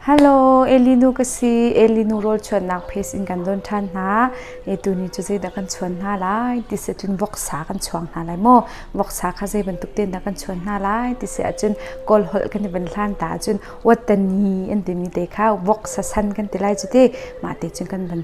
Hello, Elinu ka si. Elinu rawlchuannak pace in kan don ṭhan hna. E tuni cu zeidah kan chuan hna lai ti si ahcun voksa kan chuang hna lai maw? Voksa kha zei bantuk tein dah kan chuan hna lai ti si ahcun Kawlholh kan i van hlan ta ahcun Wattani an timi te kha voksa san kan ti lai cu ti. Mah te cun kan van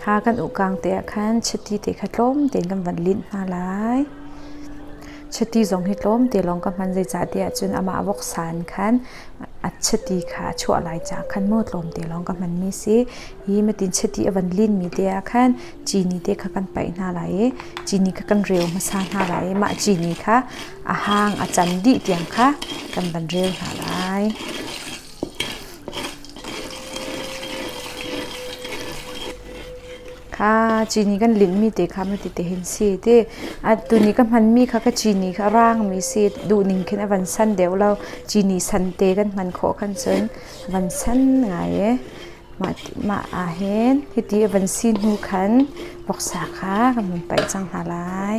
Kha kan uhkaang te ah khan chiti te kha tlawm tein kan van linh hna lai. Chiti zong hi tlawm te lawng ka hman, zeicahtiah cun amah voksa in khan a chiti kha a chuah lai caah khan maw tlawm te lawng ka hmanmi si. Hi matin chiti a van linmi te ah khan cini te kha kan paih hna lai i cini kha kan reu hmasa hna lai i mah cini kha a hang a can dih tiang kha kan van reu hna lai. Kha cini kan linhmi te kha amah tete hin si ti. Atu ni ka hmanmi kha ka cini kha a raangmi si. Duhning khin a van san deuh lo. Cini san te kan hman khawh khan cun a van san ngai i mah ahhin hiti a van si hnu khan voksa kha kan vun paih cang hna lai.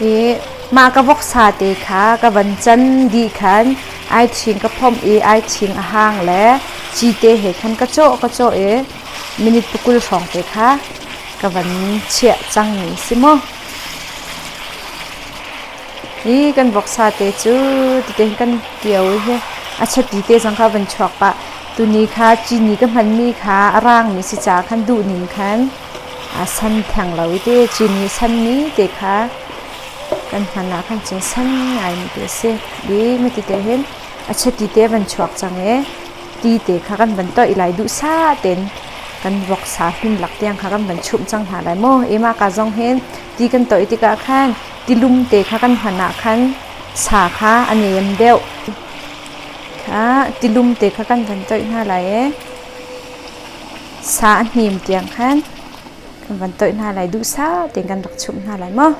i mah ka voksa te kha ka van can dih khan ai ṭhing ka phomh i ai ṭhing a hang le ci te he khan ka cawh ka cawh i minute pakul hrawng te kha ka van chiah cang mi si mu. I kan voksa te cu tete kan kio i he a chati te zong kha van chuak pah tuni kha cini ka hmanmi kha a raangmi si ca khan duhning khan aa san theng lo i ti cin i sanmi te kha kan hman ah khan cun san ngaimi te a si i miti te hin a chati te van chuak cang i ti te kha kan van toih lai duhsah tein kan voksa hlim lak tiang kha kan van chumh cang hna lai maw i maka zong hin ti kan toih tikah khan tilum te kha kan hman ah khan sa kha a nem deuh kha tilum te kha kan van toih hna lai i sa a hnim tiang khan kan van toih hna lai duhsah tein kan rak chumh hna lai maw?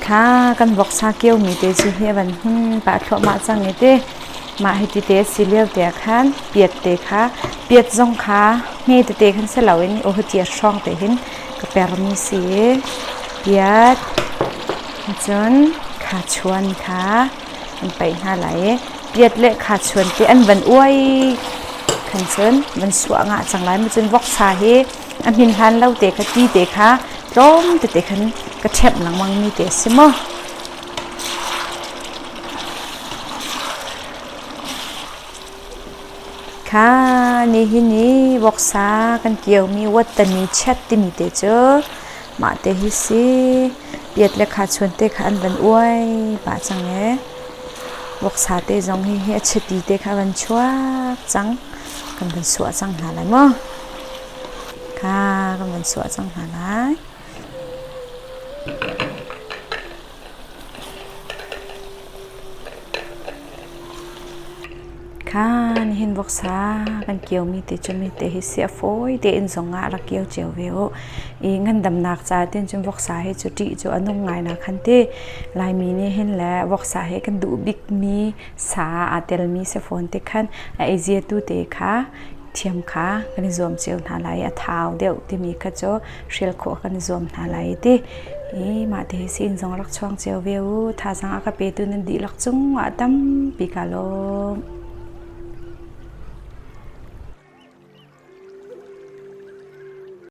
Kha kan voksa kiomi te cu hi a van hun pah thluahmah cang i te mah hi ti te a si lio te ah khan piat te kha piat zong kha hme tete khan si loin i aw hi ti a hrawng te hin ka permi si i piat cun khachuan kha an paih hna lai i piat le khachuan te an van uai khan cun van suah nga cang lai cun voksa hi a hmin hlan lo te kha ti te kha tlawm tete khan ka ṭhep lengmang mi te a si maw Kha nihin i voksa kan kiomi wattami chat timi te cu mah te hi si piat le khachuan te kha an van uai pah cang ee. Voksa te zong hihi a chiti te kha van chuak cang. Kan van suah cang hna lai maw? Kha kan van suah cang hna lai. Kha nihin voksa kan kiomi ti cu mite hi si a fawi tein zong ah rak kio cio ve u. I ngandamnak ca tin cun voksa hi cu ṭih cu a nung ngai nak han ti. Laimi nih hin le voksa he kan duh bikmi sa aa telmi si fawn tik khan a ei ziatu te kha thiam kha kan i zuam cio hna lai i a thau deuh timi kha cu hrial khawh kan zuam hna lai i ti i mah ti hi siin zong rak chuang cio ve u thazang a ka petu nan dihlak cungah tampi ka lawm